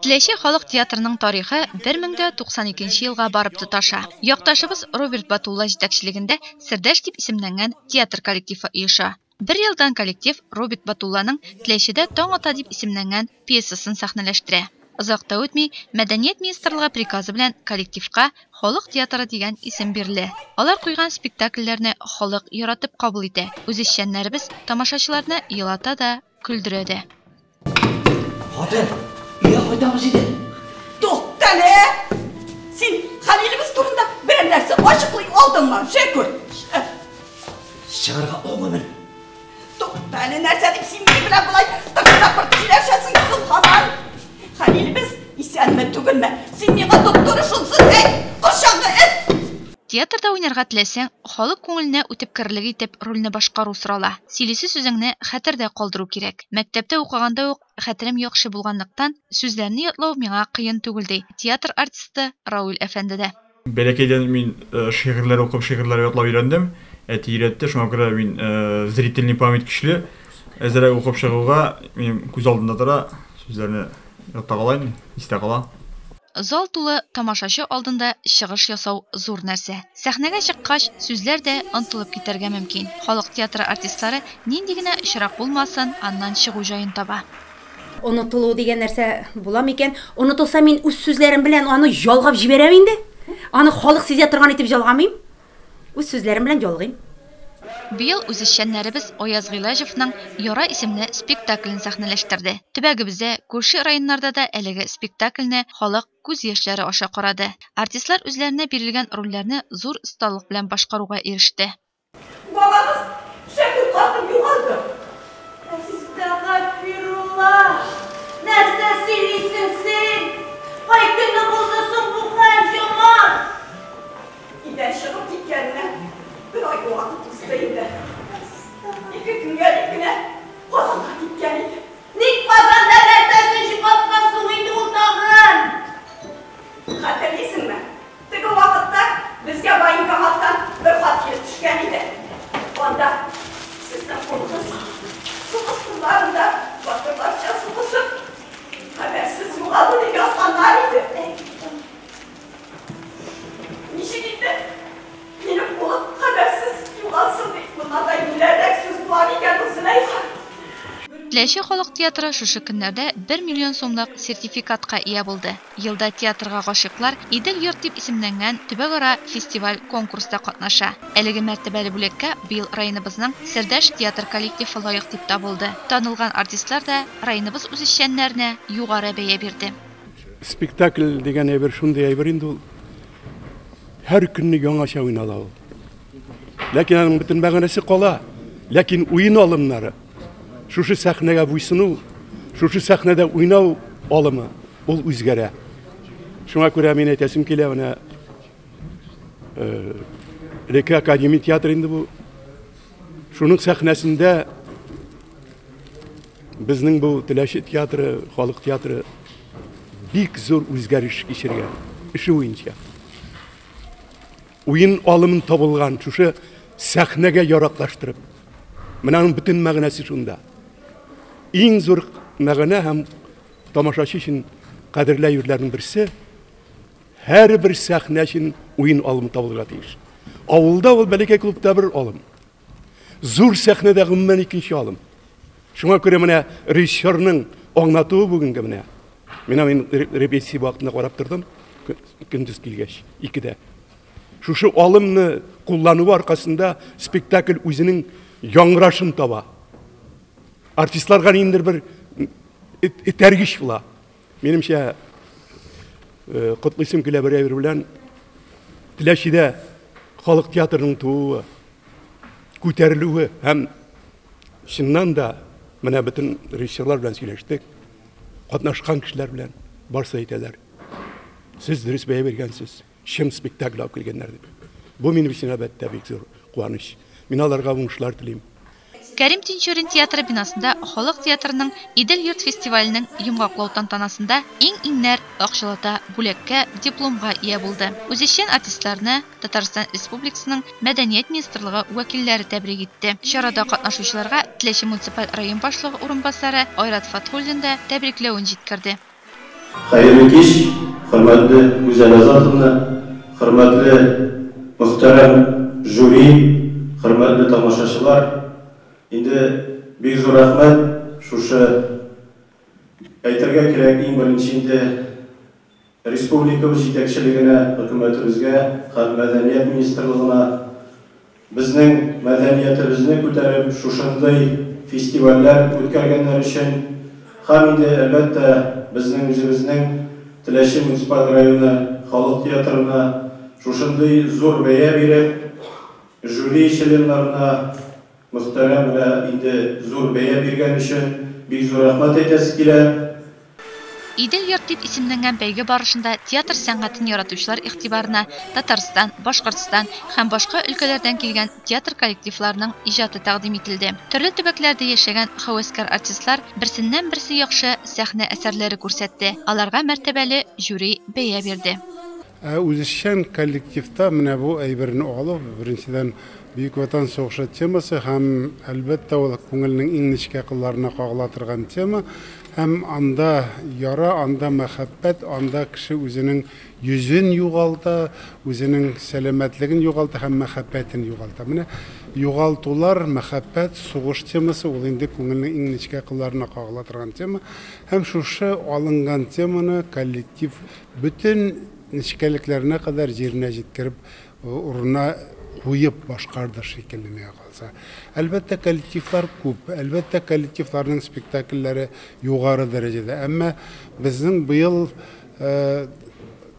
Теләче халык театрының тарихы 1092 елга барып тоташа. Якташыбыз Роберт Батулла җитәкчелегендә Сердәш дип исемләнгән театр коллективы оеша. Бер елдан коллектив Роберт Батулланың Теләчедә таң ата дип исемләнгән пьесасын сәхнәләштерә. Озак та үтми, Мәдәният министрлыгы приказы белән коллективка Халык театры дигән исем бирелә. Алар куйган спектакльләрне халык яратып кабул итә, үзешчәннәребез тамашачыларны елата да, Көлдерә дә. Хатын, өйгә кайтабыз иде. Туктале! Син Хәлилебез турында берәр нәрсә ачыклый алдыңмы? Шәкүр! Чыгарга алмыймын. Туктале, нәрсә дип син мине белән болай тыпыр-тапыр сөйләшәсең, сылхаман? Хәлилебез исәнме, түгелме? Син миңа доктор шунсын әйт, корчаңны эт! Театрда уйнарга теләсәң, халык күңеленә үтеп керерлек итеп рольне башкару сорала. Сөйлисе сүзеңне хәтердә калдыру кирәк. Мәктәптә укыганда ук хәтерем яхшы булганлыктан, сүзләрне ятлау миңа кыен түгел, ди театр артисты Рауль әфәнде дә. Бәләкәйдән мин шигырьләр укып, шигырьләр ятлау өйрәндем. Әти өйрәтте, шуңа күрә мин зрительный память көчле. Әзрәк укып чыгуга, минем күз алдында тора, сүзләрне ята кала инде, истә кала. Зал тулы тамашачы алдында чыгыш ясау зур нәрсә. Сәхнәгә чыккач, сүзләр дә онтылып китәргә мөмкин. Халык театры артистлары нинди генә очрак булмасын, аннан чыгу җаен таба. Онытылу дигән нәрсә буламы икән? Онытылса, мин үз сүзләрем белән аны ялгап җибәрәм инде. Аны халык сизә торган итеп ялгамыйм. Үз сүзләрем белән ялгыйм. Быел үзешчәннәребез Аяз Гыйләҗевның Яра исемле спектаклен сәхнәләштерде. Төбәгебездә, күрше районнарда да әлеге спектакльне халык күз яшьләре аша карады. Артистлар үзләренә бирелгән рольләрне зур осталык белән башкаруга иреште. Балагыз шәп ул хатын, югалдым. Ә сез, тәгафирулла, нәрсә сөйлисең син? Кай көнне булды соң бу хәл, юмарт? Илдән чыгып киткәненә бер ай вакыт узды инде. Ике көнгә дип кенә Казанга киткән иде. Ник Казанда нәрсәсен җибаткан соң инде ул тагын? Хәтерлисеңме, теге вакытта безгә военкоматтан бер хат килеп төшкән иде. Анда, Сезнең кулыгыз сугыш кырларында батырларча сугышып, хәбәрсез югалды, дип язганнар иде. Ничек итеп минем улым хәбәрсез югалсын ди? Моннан да юләррәк сүз була микән ул, Зөләйха? Теләче халык театры шушы көннәрдә бер миллион сумлык сертификатка ия булды. Елда театрга гашыйклар Идел йорт дип исемләнгән төбәкара фестиваль-конкурста катнаша. Әлеге мәртәбәле бүләккә быел районыбызның Сердәш театр коллективы лаек дип табылды. Танылган артистлар да районыбыз үзешчәннәренә югары бәя бирде. Спектакль дигән әйбер шундый әйбер инде ул. Һәр көнне яңача уйнала ул. Ләкин аның бөтен мәгънәсе кала. Ләкин уен алымнары, шушы сәхнәгә буйсыну, шушы сәхнәдә уйнау алымы ул үзгәрә. Шуңа күрә мин әйтәсем килә, менә элекке э, академия театры инде бу. Шуның сәхнәсендә Безнең бу Теләче театры, халык театры бик зур үзгәреш кичергән эше буенча. Уен алымын табылган шушы сәхнәгә яраклаштырып. Менә аның бөтен мәгънәсе шунда. Иң зур мәгънә һәм тамашачы өчен кадерле юрләрнең берсе һәрбер сәхнә өчен уен алымы табылырга тиеш. Авылда ул бәләкәй клубта бер алым. Зур сәхнәдә гомумән икенче алым. Шуңа күрә менә режиссерның аңлатуы бүгенге менә. Менә мин репетиция вакытында карап тордым, көндез килгәч, икедә. Шушы алымны куллану аркасында спектакль үзенең яңгырашын таба. Артистларга ниндер бер этәргеч була. Минемчә, котлыйсым килә бер әйбер белән. Теләчедә халык театрының тууы, күтәрелүе һәм чыннан да менә бөтен режиссерлар белән сөйләштек, катнашкан кешеләр белән барсы әйтәләр. Сез дөрес бәя биргәнсез. чын спектакль алып килгәннәр дип. Бу минем өчен, әлбәттә, бик зур куаныч. Мин аларга уңышлар телим. Кәрим Тинчурин театры бинасында Халык театрының Идел йорт фестиваленең йомгаклау тантанасында иң-иңнәр акчалата бүләккә, дипломга ия булды. Үзешчән артистларны Татарстан Республикасының Мәдәният министрлыгы вәкилләре тәбрик итте. Чарада катнашучыларга Теләче муниципаль район башлыгы урынбасары Айрат Фатхуллин да тәбрикләвен җиткерде. Хәерле кич, хөрмәтле Гүзәл Азатовна, хөрмәтле мөхтәрәм жюри, хөрмәтле тамашачылар! Инде бик зур рәхмәт, шушы әйтергә кирәк, иң беренче инде республикабыз җитәкчелегенә, хөкүмәтебезгә һәм Мәдәният министрлыгына. Безнең мәдәниятебезне күтәреп, шушындый фестивальләр үткәргәннәр өчен һәм инде, әлбәттә, безнең үзебезнең Теләче муниципаль районы халык театрына шушындый зур бәя биреп, жюри членнарына мөхтәрәм генә инде зур бәя биргән өчен бик зур рәхмәт әйтәсе килә. Идел-йорт дип исемләнгән бәйге барышында театр сәнгатен яратучылар игътибарына Татарстан, Башкортстан һәм башка өлкәләрдән килгән театр коллективларының иҗаты тәкъдим ителде. Төрле төбәкләрдә яшәгән һәвәскәр артистлар берсеннән-берсе яхшы сәхнә әсәрләре күрсәтте, аларга мәртәбәле жюри бәя бирде. Ә үзешчән коллективта менә бу әйберне алу, беренчедән, Бөек Ватан сугышы темасы һәм, әлбәттә, ул күңелнең иң нечкә кылларына кагыла торган тема. Һәм анда яра, анда мәхәббәт, анда кеше үзенең йөзен югалта, үзенең сәламәтлеген югалта һәм мәхәббәтен югалта. Менә югалтулар, мәхәббәт, сугыш темасы, ул инде күңелнең иң нечкә кылларына кагыла торган тема. Һәм шушы алынган теманы коллектив Бөтен нечкәлекләренә кадәр җиренә җиткереп, урынына куеп башкарды шикелле, миңа калса. Әлбәттә, коллективлар күп, әлбәттә, коллективларның спектакльләре югары дәрәҗәдә. Әмма безнең быел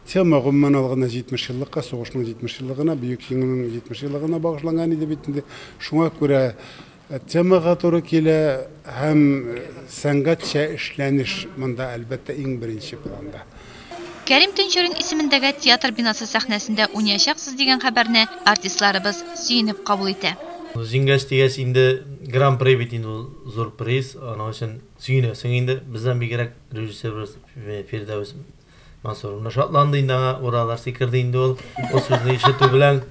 тема, гомумән алганда, 70 еллыкка, сугышның 70 еллыгына, Бөек Җиңүнең 70 еллыгына багышланган иде бит инде. Шуңа күрә Темага туры килә һәм сәнгатьчә эшләнеш монда, әлбәттә, иң беренче планда. Кәрим Төнчурин исемендәге театр бинасы сәхнәсендә уйнаячаксыз дигән хәбәрне артистларыбыз сөенеп кабул итә. Җиңгәч дигәч инде, гран-при бит инде ул, зур приз, аның өчен сөенәсең инде. Бездән бигрәк режиссерыбыз Фирдәвес. Мансур менә шатланды инде аңа, уралар сикерде инде ул. Ул сүзне ишетү белән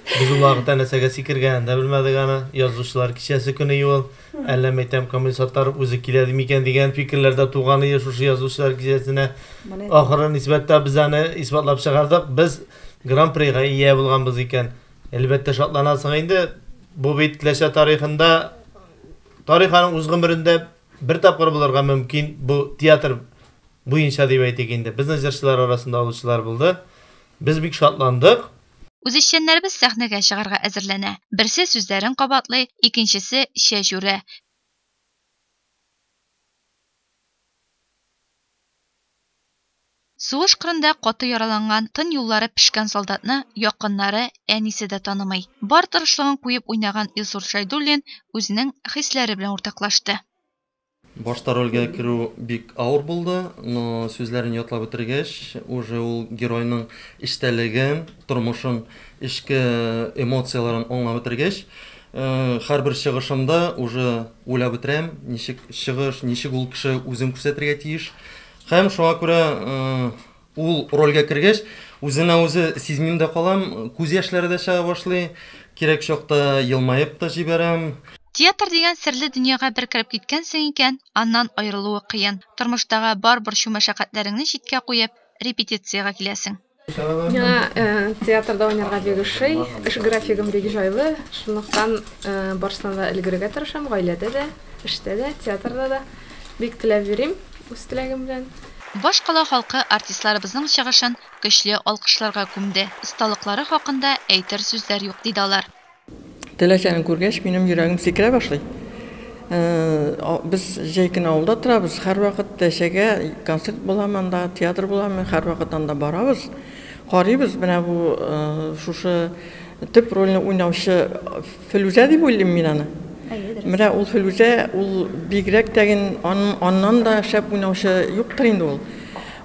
без ул вакытта нәрсәгә сикергәнен дә белмәдек аны. Язучылар кичәсе көне юл, әллә мәйтәм комиссатлар үзе килә микән дигән фикерләр дә туган иде шушы язучылар кичәсенә. Ахыры нисбәттә без аны исбатлап чыгардык, без гран-прига ия булганбыз икән. Әлбәттә шатланасың инде, бу бит Теләче тарихында, тарих аның үз гомерендә Бер тапкыр булырга мөмкин, бу театр буенча дип әйтик инде. Безнең җырчылар арасында алучылар булды. Без бик шатландык. Үзешчәннәребез сәхнәгә чыгарга әзерләнә. Берсе сүзләрен кабатлый, икенчесе чәч үрә. Сугыш кырында каты яраланган, тын юллары пешкән солдатны якыннары, әнисе дә танымый. Бар тырышлыгын куеп уйнаган Илсур Шәйдуллин үзенең хисләре белән уртаклашты. Башта рольгә керү бик авыр булды, но сүзләрен ятлап бетергәч, уже ул геройның эчтәлеген, тормышын, эчке эмоцияләрен аңлап бетергәч, һәрбер чыгышымда уже уйлап бетерәм, ничек чыгыш, ничек ул кеше үзен күрсәтергә тиеш. Һәм шуңа күрә ул рольгә кергәч, үзенә үзе сизмим дә калам, күз яшьләре дә чыга башлый, кирәк чакта елмаеп та җибәрәм. Театр дигән серле дөньяга бер кереп киткәнсең икән, аннан аерылуы кыен. Тормыштагы бар борчу-мәшәкатьләреңне читкә куеп, репетициягә киләсең. Миңа театрда уйнарга бик ошый. Эш графигым бик җайлы, шунлыктан барсына да өлгерергә тырышам, гаиләдә дә, эштә дә, театрда да. Бик теләп йөрим, үз теләгем белән. Башкала халкы артистларыбызның чыгышын көчле алкышларга күмде. Осталыклары хакында әйтер сүзләр юк, диде алар. Теләсәне күргәч, минем йөрәгем сикерә башлый. Без җәй көне авылда торабыз, һәрвакыт Тәшәгә концерт буламы анда, театр буламы, һәрвакыт анда барабыз. Карыйбыз, менә бу шушы төп рольне уйнаучы Филүзә дип уйлыйм мин аны. Менә ул Филүзә, ул бигрәк тәген аннан да шәп уйнаучы юктыр инде ул.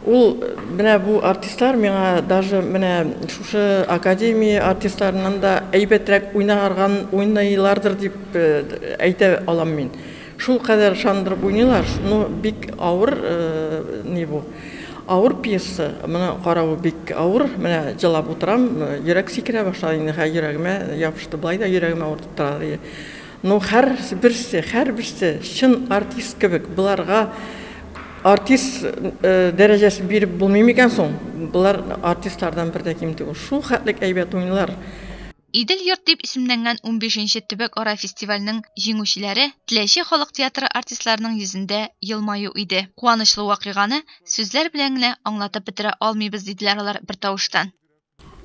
Ул менә бу артистлар миңа даже менә шушы академия артистларыннан да әйбәтрәк уйнарган уйныйлардыр дип э, әйтә алам мин. Шул кадәр шандырып уйныйлар, ну бик авыр э, ни бу. Авыр пьеса, моны каравы бик авыр. Менә җылап утырам, э, йөрәк сикерә башлады инде, хә йөрәгемә ябышты, былай да йөрәгемә авыртып тора. Ну хәр берсе, хәр берсе чын артист кебек, боларга артист дәрәҗәсе биреп булмый микән соң? Болар артистлардан бер дә ким түгел. Шул хәтлек әйбәт уйныйлар. Идел йорт дип исемләнгән унбишенче төбәкара фестивальнең җиңүчеләре Теләче халык театры артистларының йөзендә елмаю иде. Куанычлы вакыйганы сүзләр белән генә аңлатып бетерә алмыйбыз, диделәр алар бертавыштан.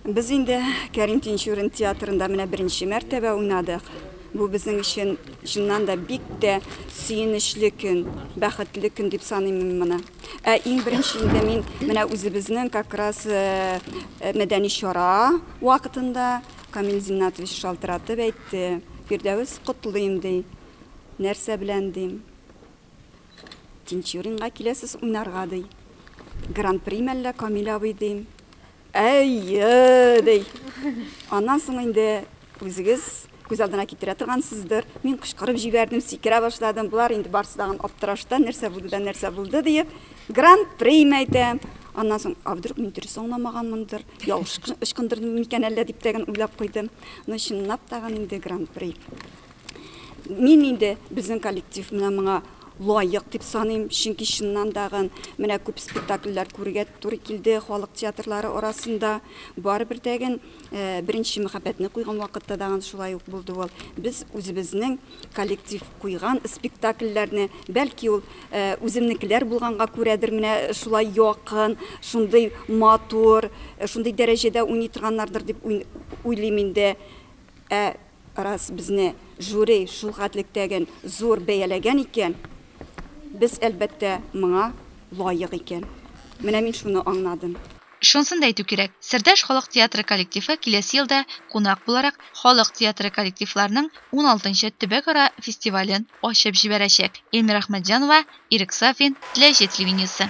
Без инде Кәрим Тинчурин театрында менә беренче мәртәбә уйнадык. Бу безнең өчен чыннан да бик тә сөенечле көн, бәхетле көн дип саныйм мин моны. Ә иң беренче инде мин менә үзебезнең как раз э, э, мәдәни чара вакытында Камил Зиннатович шалтыратып әйтте. Фирдәвес котлыйм ди. Нәрсә белән дим? Тинчуринга киләсез уйнарга, ди. Гран-при мәллә, Камил абый, дим. Әйе, ди. Аннан соң инде үзегез күз алдына китерә торгансыздыр. Мин кычкырып җибәрдем, сикерә башладым. Болар инде барсы тагын аптырашта, нәрсә булды да нәрсә булды диеп, гран-при әйтәм. Аннан соң, а вдруг мин дөрес аңламаганмындыр, ялгыш ычкындырдым микән әллә дип тәген уйлап куйдым. Но чынлап тагын инде гран-при. Мин инде безнең коллектив менә моңа лаек дип саныйм, чөнки чыннан дагын менә күп спектакльләр күрергә туры килде халык театрлары арасында. Барыбер дәген э, беренче мәхәббәтне куйган вакытта дагын шулай ук булды ул. Без үзебезнең коллектив куйган спектакльләрне, бәлки ул э, үземнекеләр булганга күрәдер, менә шулай якын, шундый матур, э, шундый дәрәҗәдә уйный торганнардыр дип уйлыйм инде. Ә Раз безне жюри шул гадлектәген зур бәяләгән икән, без, әлбәттә, моңа лаек икән. Менә мин шуны аңнадым. Шунысын да әйтү кирәк, Сердәш халык театры коллективы киләсе елда кунак буларак Халык театры коллективларының уналтынчы төбәкара фестивален ачып җибәрәчәк. Эльмира Әхмәтҗанова, Ирек Сафин, Теләче телевидениесе.